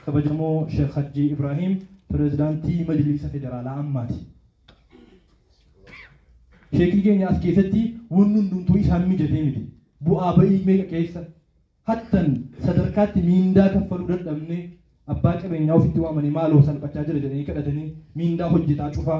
Kabajamoo Sheekh Hajjii Ibraahiim Pirezidaantii Majliisa Federaalaa ammaati. Sheekni keenya as keessatti wanni hundumtuu isaan mijatee miti. Bu'aa ba'ii meeqa keessa hattan sadarkaatti miindaa kaffaluu dadhabnee abbaa qabeenyaa ofitti waamanii maaloo salphachaa jira jedhanii kadhatanii miindaa hojjetaa cufaa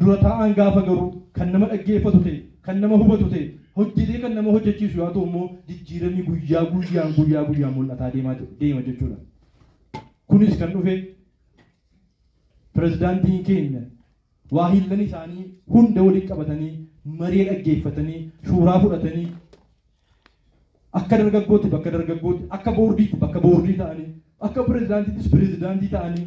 Dura taa'aan gaafa garuu kan nama dhaggeeffatu ta'e, kan nama hubatu ta'e, hojjetee kan nama hojjechiisu yaa ta'u immoo jijjiiramni guyyaa guyyaan guyyaa guyyaan mul'ataa deemaa deema jechuudha. Kunis kan dhufe pirezidaantiin keenya waahillan isaanii hunda waliin qabatanii maree dhaggeeffatanii shuuraa fudhatanii akka dargaggootti bakka dargaggootti akka boordiitti bakka boordii ta'anii akka pirezidaantiittis pirezidaantii ta'anii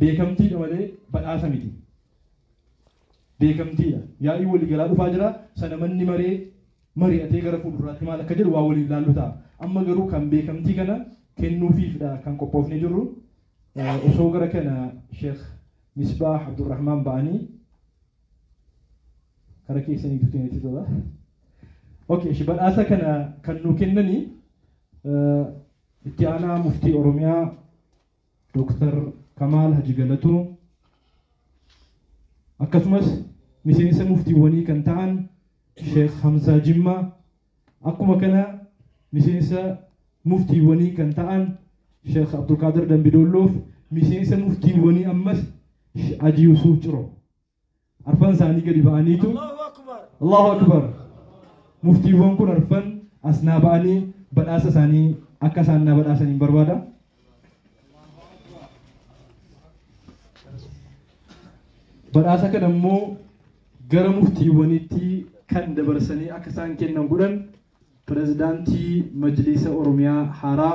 Beekamtiidha malee badhaasa miti. Beekamtiidha. Yaa'ii waliigalaa dhufaa jira. Sana manni maree mari'atee gara fuulduraatti maal akka jedhu waa waliin ilaallu ta'a. Amma garuu kan beekamtii kana kennuufiifdha kan qophoofnee jirru. Osoo gara kana Sheekh Misbaah Abdurrahmaan ba'anii gara keessanii duutiin itti tola. Okay, shi badhaasa kana kan nuu kennanii itti aanaa muftii Oromiyaa Dr. Kamaal Haji Galatoo akkasumas miseensa muftiiwwanii kan ta'an Sheekh Hamzaa Jimmaa akkuma kana miseensa muftiiwwanii kan ta'an Sheekh Abdulqaadir Dambidoolloof miseensa muftiiwwanii ammas Haji Yusuuf Ciroo. arfan isaanii gadi ba'aniitu Allahu Akbar muftiiwwan kun arfan as naa ba'anii badhaasa isaanii akka isaan naa badhaasan hin barbaada. Badhaasa kana immoo gara muftiiwwanitti kan dabarsanii akka isaan kennan godhan pirezidaantii majliisa Oromiyaa haaraa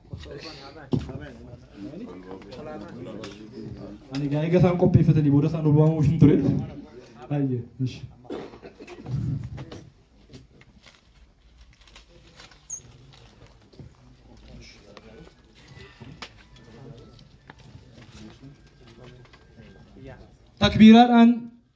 Ani gaa eega isaan qopheeffatanii booda isaan obaamuuf hin ture. Baay'ee. Ishi. Takbiiraadhaan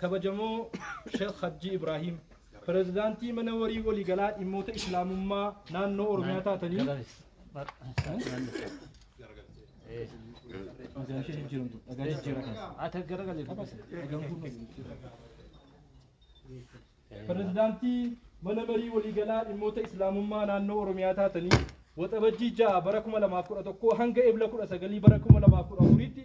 Kabajamoo Sheekh Hajjii Ibraahiim, Pirezidaantii Mana Warii Waliigalaa Dhimmoota Islaamummaa Naannoo Oromiyaa taatanii Pirezidaantii Mana Marii Waliigalaa Dhimmoota Islaamummaa Naannoo Oromiyaa taatanii Waxabajjii 6 bara 2011 hanga Ebla 19 bara 2014tti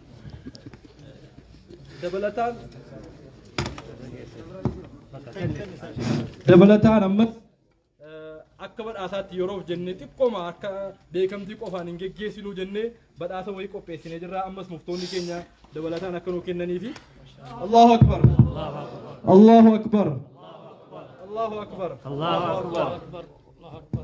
Dabalataan dabalataan ammas eh, akka badhaasaatti yeroof jennee xiqqoma akka beekamtii qofaan hin geggeessinuu jennee badhaasa wayii qopheessinee jirra ammas muftoonni keenya dabalataan akka nuu kennaniifi Allahu Akbar Allahu Akbar Allahu Akbar Allahu Akbar.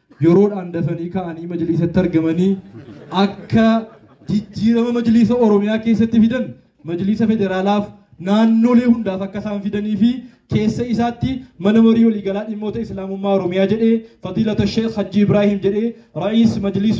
yeroodhaan dafanii ka'anii majliisatti argamanii akka jijjiirama majliisa Oromiyaa keessatti fidan majliisa federaalaaf naannolee hundaaf akka isaan fidanii fi keessa isaatti mana marii waliigalaa dhimmoota islaamummaa Oromiyaa jedhee fadiilata Sheekh Hajji Ibraahim jedhee ra'iis majliis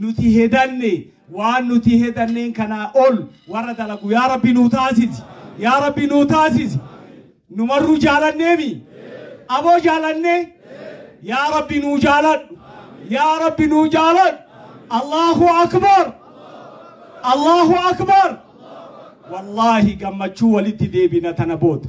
Nuti hedanne waan nuti hedanneen kanaa ol warra dalagu yaa rabbi nuu taasisi yaa rabbi nuu taasisi numarruu jaalanneemi aboo jaalanne yaa rabbi nuu jaaladhu yaa rabbi nuu jaaladhu allahu akbar allahu akbar wallaahi gammachuu walitti deebina tana booda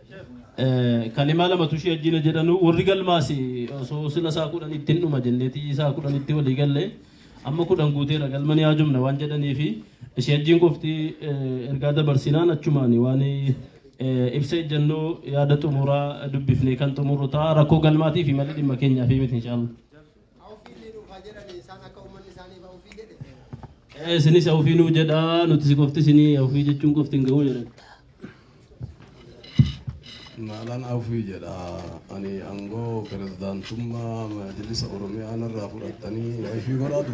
Kalimaa lamatu ishii ajjina jedhanu warri galmaas osoo sila isaa kudhan ittiin dhuma jenneeti isaa kudhan itti walii galle amma kudhan guuteera galma ni haajomna waan jedhanii fi ishee ajjiin qofti ergaa dabarsinaan achumaan waan ibsa ejjannoo yaada xumuraa dubbifnee kan xumurru ta'a rakkoo galmaatii fi malli dhimma keenyaa fi miti inshaallah. Isinis awufii nuu jedhaa nuti si qofti isinii awufii jechuun qofti hin ga'uu jedhan. Maalaan awufii jedha ani aangoo pirezidaantummaa majlisa Oromiyaa narraa fudhattanii awufii godhaatu.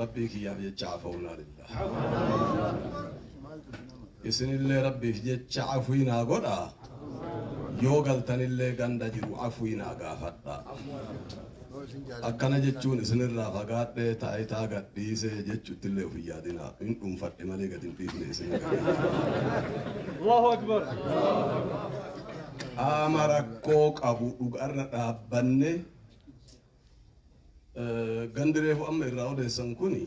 Rabbii kiyyaaf jecha afaunaa lillah. Isinillee rabbiif jecha afwii naa godhaa. Yoo galtanillee ganda jiru afwii naa gaafadhaa. Akkana jechuun isinirraa fagaadhee taayitaa gadhiisee jechuuttillee of hin yaadinaa. Hin dhuunfadhe malee gad hin dhiifne isin. Qaama rakkoo qabu dhugarra dhaabbanne Gandi reefu amma irraa odeessan kuni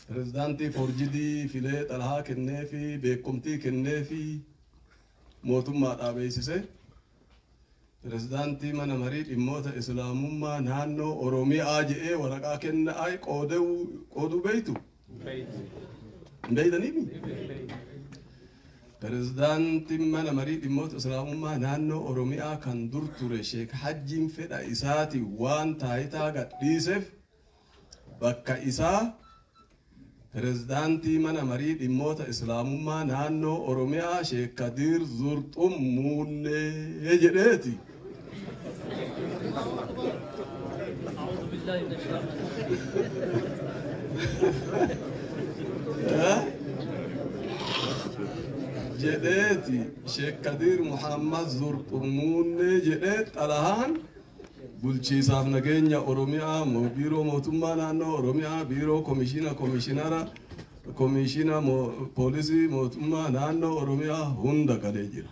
pirezidaantii foorjidii filee xalahaa kenneefi beekumtii kenneefi mootummaadhaa beeksise pirezidaantii mana marii dhimmoota islaamummaa naannoo Oromiyaa jedhee waraqaa kenna ay qooduu beektu Hin beektaniimi? Pirezidaantiin mana marii dhimmoota Islaamummaa naannoo Oromiyaa kan dur ture Sheek Hajjiin fedha isaatiin waan taayitaa gadhiiseef bakka isaa pirezidaantii mana marii dhimmoota Islaamummaa naannoo Oromiyaa Sheek Kadiir Zurxum muullee jedheeti. jedheeti sheek kadiir muhammad zurqurmuunne jedhee xalahaan bulchiisaaf nageenya oromiyaa mo- biiroo mootummaa naannoo oromiyaa biiroo komishiina komishinara komishiina mo- poolisii mootummaa naannoo oromiyaa hunda galee jira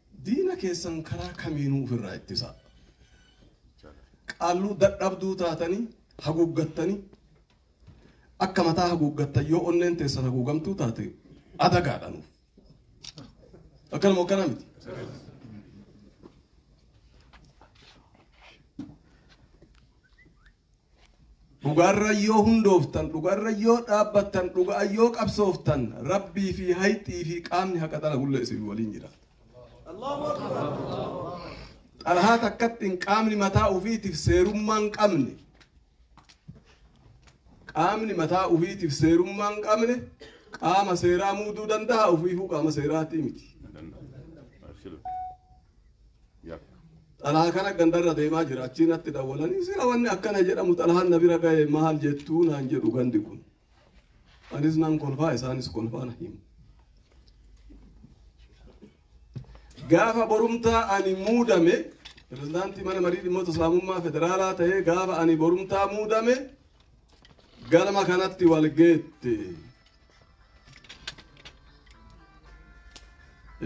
Diina keessan karaa kamiinuu ufirraa ittisaa. Qaalluu dadhabduu taatanii haguuggattanii akka mataa haguuggattan yoo onneen teessan haguugamtuu taate adagaadha nuuf. Akkanuma akkana miti. Dhugaarra yoo hundooftan, dhugaarra yoo dhaabbattan, dhuga'an yoo qabsooftan, Rabbii fi hayxii fi qaamni haqa dalagullee isin waliin jira. Xalahaa takkattiin qaamni mataa ufiitiif seerummaa hin qabne, qaamni mataa ufiitiif seerummaa hin qabne, qaama seeraa muuduu danda'a, ufiifuu qaama seeraatii miti. Xalhaa kana gandarra deemaa jira achii natti dawwalanii sila wanni akkana jedhamu xalhaan na bira gahe maal jettuu naan jedhu gandi kun anis nan kolfaa isaanis kolfaa na himu gaafa borumtaa ani muudame pirezidaantii mana marii dhimmoota islaamummaa federaalaa ta'ee gaafa ani borumtaa muudame galma kanatti wal geette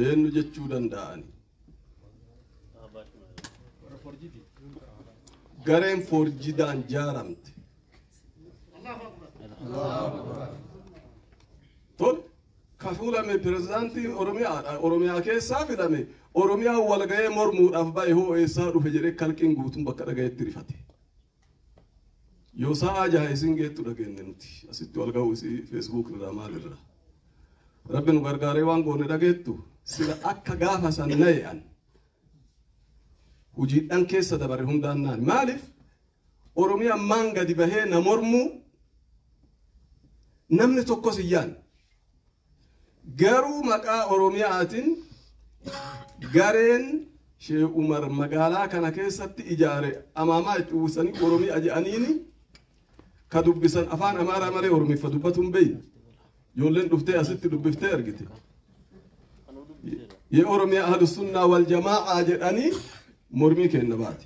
eenyu jechuu danda'ani gareen foorjidaan jaaramte tol ka fuulame pirezidaantiin oromiyaadha oromiyaa keessaa filame oromiyaa walga'ee mormuudhaaf ba'e hoo eessaa dhufe jedhee kalqiin guutuun bakka dhaga'etti rifate Yoo sa'aa jaha isin geettu dhageenne nuti asitti wal ga'uu isii feesbuuk irraa maal irraa. Rabbi nu gargaaree waan goone dhageettu sila akka gaafa san naye'an hojiidhaan keessa dabarre hundaan naan maaliif Oromiyaa ammaan gadi bahee na mormuu namni tokkos hin yaanne. Garuu maqaa Oromiyaatin gareen Sheeh Umar magaalaa kana keessatti ijaare amaamaa itti uwwisanii Oromiya jedhaniini ka dubbisan afaan Amaaraa malee Oromiffa dubbatu hin beeyne. Ijoolleen dhuftee asitti dubbiftee argite. Yee Oromiyaa Ahlu Sunnaa wal Jamaa'a jedhanii mormii kenna baate.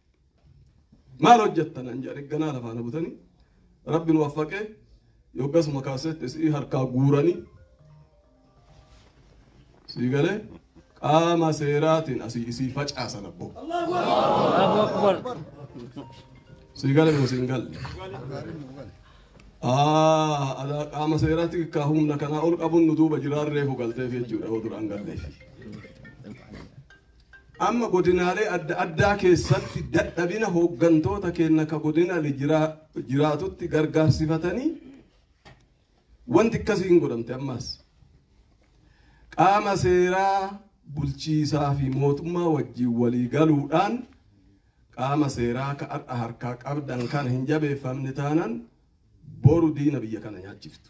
Maal hojjetta naan jedhanii ganaa lafaa na butanii rabbi nu waffaqee yoggasuma kaaseetti isii harkaa guuranii sii galee qaama seeraatiin asii isii facaasan abboo. Sii galee moo siin galle? Aa, ala qaama seeraatti kaa humna kanaa ol qabuun nu duuba jiraan reefu galteef jechuudha yoo duraan galleef. Amma godinaalee adda addaa keessatti dadhabina hooggantoota keenya ka godina jiraatutti gargaarsifatanii wanti akkasii hin godhamte ammaas. Qaama seeraa bulchiisaa fi mootummaa wajjin walii galuudhaan qaama seeraa ka har'a harkaa qabdan kana hin jabeeffamne taanan boru diina biyya kana nyaachiftu.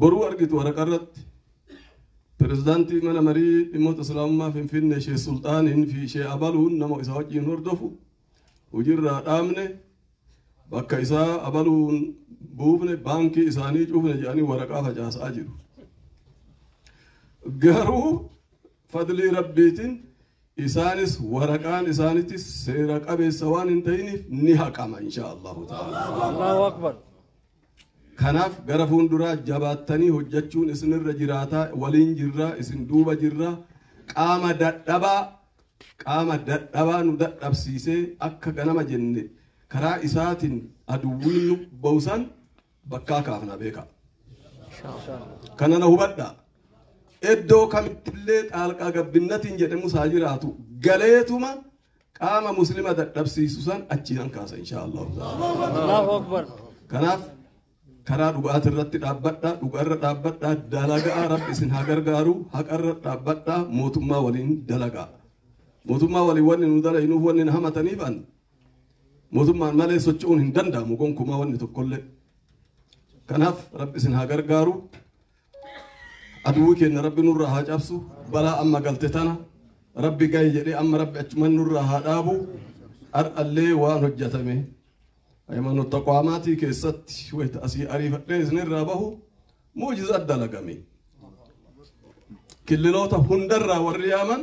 Boruu argitu waraqarratti Pirezidaantii Mana Marii Dhimmoota Islaamummaa Finfinnee Sheeh Sulxaaniin fi Sheeh Abaluun nama isa wajjin hordofu hojiirraa dhaabne bakka isaa abaluun buufne baankii isaanii cufne jedhanii waraqaa facaasaa jiru. Garuu fadlii rabbiitiin Isaanis waraqaan isaanitis seera qabeessa waan hin ta'iniif ni haqama insha Allahu ta'ala. Kanaaf gara fuulduraa jabaattanii hojjechuun isinirra jiraataa waliin jirraa isin duuba jirraa qaama dadhabaa qaama dadhabaa nu dadhabsiisee akka ganama jenne karaa isaatiin aduwwiin nu ba'usan bakkaa kaafnaa beekaa. Kana na hubadha. Iddoo kamittillee xaalqaa gabbinnatiin jedhamu isaa jiraatu galeetuma qaama muslima dadhabsiisu san achiin an kaasa inshaa Allahu ta'ala. Kanaaf karaa dhugaati irratti dhaabbadha dhugaa irra dhaabbadha dalagaa rabbi isin haa gargaaru haqa irra dhaabbadha mootummaa waliin dalagaa. Mootummaa waliin wanni nu dalaginuuf wanni na hamataniif an Mootummaan malee socho'uun hin danda'amu gonkumaa wanni tokkollee. Kanaaf rabbi isin haa gargaaru. Aduwwi keenya rabbi nurraa haa cabsu. Balaa amma galte tana rabbi gahe jedhee amma rabbi achuman nurraa haa dhaabu. Har'allee waan hojjetame hayimaanota taqwaamaatii keessatti wayita asii ariifadhee isinirraa bahu muujiza adda lagame. Killiloota hundarraa warri yaaman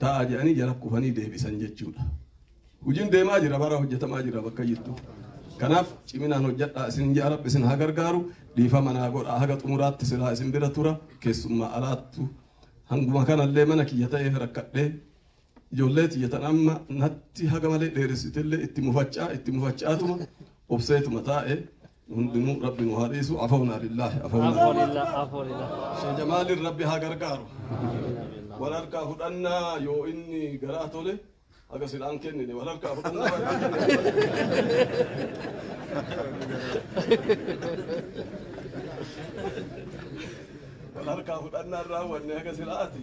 ta'a jedhanii jala kufanii deebisan jechuudha. Hojiin deemaa jira bara hojjetamaa jira bakka jirtu. Kanaaf ciminaan hojjedhaa isin jaa rabbi isin haa gargaaru dhiifama naa godhaa haga xumuraatti silaa isin bira tura keessummaa alaattu hanguma kanallee mana kiyya ta'eef rakkadhee ijoollee tiyya tan amma natti haga malee dheeressitellee itti mufachaa itti mufachaatuma obseetuma taa'e hundinuu rabbi nu haa dhiisu afoona lillaahi afoona Afoolillah, afoolillah. Sheikh Jamaaliin rabbi haa gargaaru wal harkaa fudhannaa yoo inni garaa tole haga silaan kennine wal harkaa fudhannaa yoo inni wal harkaa fudhannaa irraa wanne haga silaati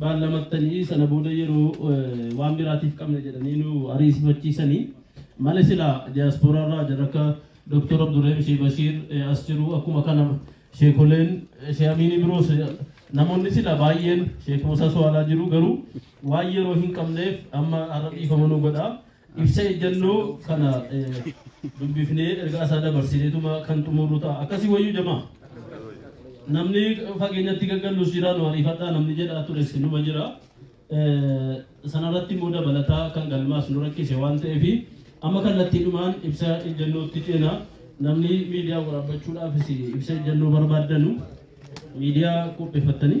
baallamattanii sana booda yeroo waan biraatiif qabna jedhanii nu ariisifachiisanii male sila diaspora irraa jira akka Dr. Abdurrahim Shee Bashiir as jiru akkuma kana sheekoleen Shee Amiinii biroos namoonni sila baay'een Sheek Musaa Suwaalaa jiru garuu waan yeroo hin qabneef amma har'a dhiifama nu godha Ibsa ejjannoo kana dubbifnee ergaa isaa dabarsineetuma kan xumurru ta'a. Akkasii wayyuu jamaa. Namni fageenyatti gaggallus jira nu ariifadhaa namni jedhaa tures numa jira. Sanarratti immoo dabalataa kan galmaas nu rakkise waan ta'eef amma kallattiidhumaan ibsa ejjannootti ceena. Namni miidiyaa waraabbachuudhaafis ibsa ejjannoo barbaaddanu miidiyaa qopheeffattanii.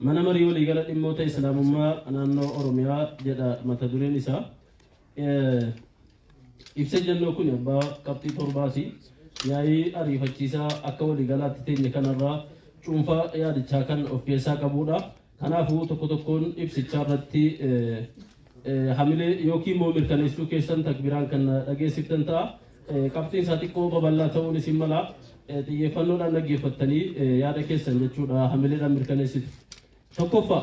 Mana Marii Waliigala Dhimmoota Islaamummaa Naannoo Oromiyaa jedha mata dureen isaa. Ibsa ejjennoo kun abbaa qabxii torbaati. Yaa'ii ariifachiisaa akka waliigalaatti teenye kanarraa cuunfaa yaadichaa kan of keessaa qabudha. Kanaafuu tokko tokkoon ibsichaa irratti hamilee yookiin moo mirkaneessuu keessan takbiraan kan dhageessiftan ta'a. Qabxiin isaa xiqqoo babal'aa ta'uun isin mala. Xiyyeeffannoodhaan dhaggeeffattanii yaada keessan jechuudha hamileedhaan mirkaneessitu. Tokkoffaa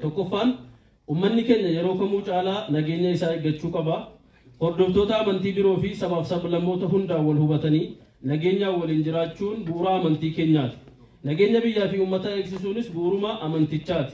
tokkoffaan ummanni keenya yeroo kamuu caalaa nageenya isaa eeggachuu qaba. Hordoftoota amantii biroo fi sabaaf sablammoota hundaan wal hubatanii nageenyaan waliin jiraachuun bu'uura amantii keenyaati. Nageenya biyyaa fi uummataa eegsisuunis bu'uuruma amantichaati.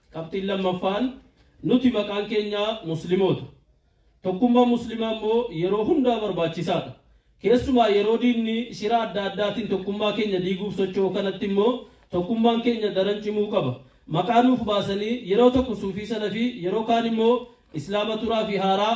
Qabxiin lammaffaan nuti maqaan keenya Muslimoota. Tokkummaan Muslimaa immoo yeroo hundaa barbaachisaadha. Keessumaa yeroo diinni shira adda addaatiin tokkummaa keenya diiguuf socho'u kanatti immoo tokkummaan keenya daran cimuu qaba. Maqaa nuuf baasanii yeroo tokko suufii salafii yeroo kaan immoo islaama turaa fi haaraa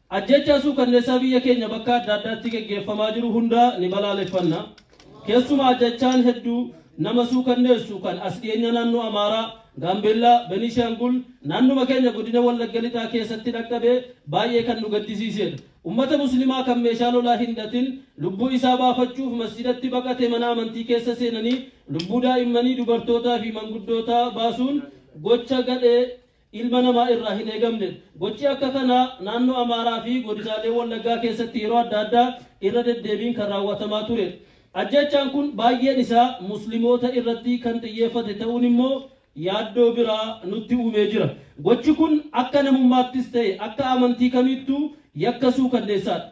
Ajjeechaa suukanneessaa biyya keenya bakka adda addaatti geggeeffamaa jiru hundaa ni balaaleffanna. Keessumaa ajjeechaan hedduu nama suukanneessu kan as dhiyeenya naannoo Amaaraa, Gaambeellaa, Beniishaangul, naannuma keenya godina Wallagga Lixaa keessatti dhaqqabe baay'ee kan nu gaddisiisedha. Ummata Muslimaa kan meeshaa lolaa hin hidhatin lubbuu isaa baafachuuf masjiidatti baqate mana amantii keessa seenanii lubbuu daa'immanii, dubartootaa fi manguddootaa baasuun gocha gadhee ilma namaa irraa hin eegamne. Gochi akka kanaa naannoo Amaaraa fi godinaalee Wallaggaa keessatti yeroo adda addaa irra deddeebiin kan raawwatamaa ture. Ajjeechaan kun baay'een isaa Muslimoota irratti kan xiyyeeffate ta'uun immoo yaaddoo biraa nutti uumee jira. Gochi kun akka namummaattis ta'e akka amantii kamiittuu yakka suukanneessaadha.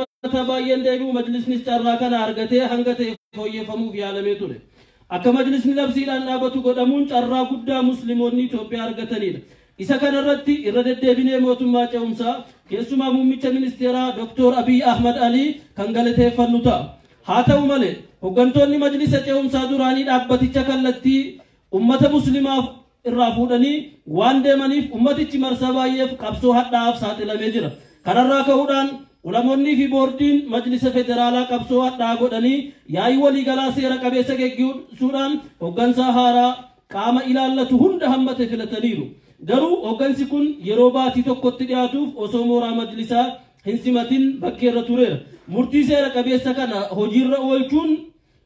uummataa baay'een deebi'u majlisnis carraa kana argatee hanga ta'e fooyyeffamuuf yaalamee ture. Akka majlisni labsiidhaan dhaabatu godhamuun carraa guddaa Muslimoonni Itoophiyaa argataniidha. Isa kana irratti irra deddeebinee mootummaa ce'umsaa keessumaa muummicha ministeeraa Dr. Abiy Ahmad Alii kan galateeffannu ta'a. Haa ta'u malee hoggantoonni majlisa ce'umsaa duraanii dhaabbaticha kallattii ummata muslimaaf irraa fuudhanii waan deemaniif ummatichi marsaa baay'eef qabsoo hadhaa'aaf saaxilamee jira. Kanarraa ka'uudhaan Ulamoonnii fi boordiin majlisa federaalaa qabsoo hadhaa'aa godhanii yaa'ii waliigalaa seera qabeessa geggeessuudhaan hoggansaa haaraa qaama ilaallatu hunda hammate filataniiru. Garuu hoggansi kun yeroo baatii tokkotti dhiyaatuuf osoo mooraa majlisaa hin simatin bakkeerra tureera. Murtii seera qabeessa kana hojiirra oolchuun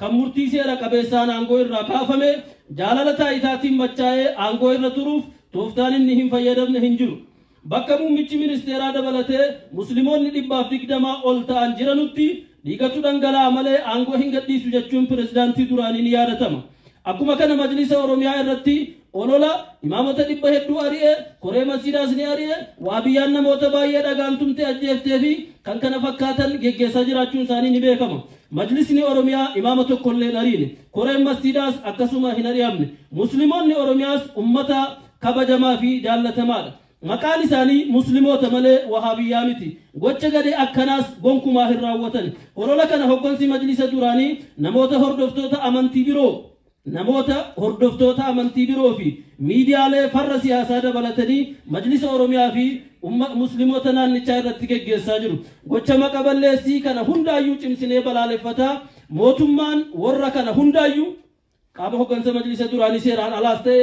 Kan murtii seera qabeessaan aangoo irraa kaafame jaalala taayitaatiin machaa'ee aangoo irra turuuf tooftaan inni hin fayyadamne hin jiru. Bakka muummichi ministeeraa dabalatee Muslimoonni dhibbaaf digdamaa ol ta'an jiranutti dhiigatu dhangala'aa malee aangoo hin gadhiisu jechuun pirezidaantii duraanii ni yaadatama. Akkuma kana majlisa Oromiyaa irratti Olola, imaamota dhibba hedduu ari'e, koree masjiidaas ni ari'e, Wahabiyyaan namoota baay'ee dhagaan tumtee ajjeeftee fi kkf geggeessaa jiraachuun isaanii ni beekama. Majlisni Oromiyaa imaama tokko illee hin ariine. Koreen masjiidaas akkasuma hin ari'amne. Muslimoonni Oromiyaas ummata kabajamaa fi jaallatamaadha. Maqaan isaanii Muslimoota malee Wahaabiyyaa miti. Gocha gadhee akkanaas gonkumaa hin raawwatan. Olola kana hoggansi majlisa duraanii namoota hordoftoota amantii biroo, Namoota hordoftoota amantii biroo fi miidiyaalee farra siyaasaa dabalatanii Majlisa Oromiyaa fi umma Musliimota naannichaa irratti geggeessaa jiru. Gocha maqa balleessii kana hundaayyuu cimsinee balaaleffataa, mootummaan worra kana hundaayyuu qaama hoggansa Majlisa duraanii seeraan alaas ta'e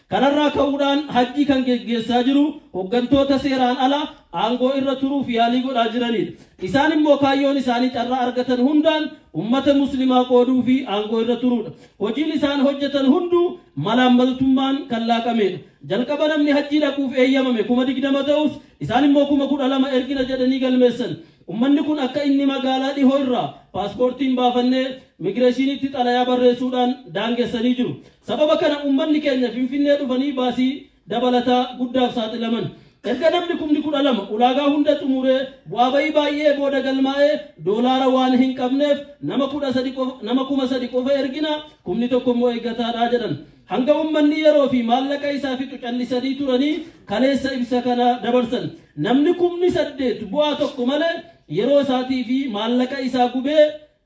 Kanarraa ka'uudhaan hajjii kan geggeessaa jiru hoggantoota seeraan ala aangoo irra turuuf yaalii godhaa jiraniidha. Isaan immoo kaayyoon isaanii carraa argatan hundaan ummata muslimaa qooduu fi aangoo irra turuudha. Hojiin isaan hojjetan hunduu malaammaltummaan kan laaqameedha. Jalqaba namni hajjii dhaquuf eeyyamame kuma digdama ta'us isaan immoo kuma kudha lama ergina jedhanii galmeessan. Ummanni kun akka inni magaalaa dhihoo irraa paaspoortiin baafannee migireeshiniitti xalayaa barreessuudhaan daangessanii jiru. Sababa kana uummanni keenya Finfinnee dhufanii baasii dabalataa guddaaf saaxilaman. Erga namni kumni 12 ulaagaa hunda xumuree bu'aa ba'ii baay'ee booda galmaa'e doolaara waan hin qabneef nama 13 qofa nama 3000 qofa ergina kumni tokko immoo eeggataadha jedhan. Hanga uummanni yeroo fi maallaqa isaa fixu callisanii turanii kaleessa ibsa kana dabarsan. Namni kumni 8 bu'aa tokko malee yeroo isaatii fi maallaqa isaa gubee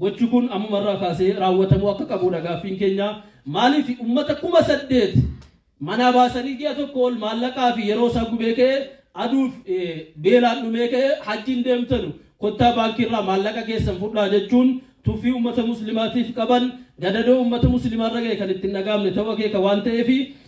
Gochi kun ammuma irraa kaasee raawwatamuu akka qabuudha gaaffiin keenya. Maaliif uummata 8,000 manaa baasanii ji'a tokko ol maallaqaa fi yeroo isaa gubee ka'e aduuf beelaan dhumee ka'e hajjiin deemtanu kottaa baankii irraa maallaqa keessan fudhaa jechuun tuffii uummata muslimaatiif qaban gadadoo uummata muslimaa irra ga'e kan ittiin dhagaamne ta'uu akeeka waan ta'eef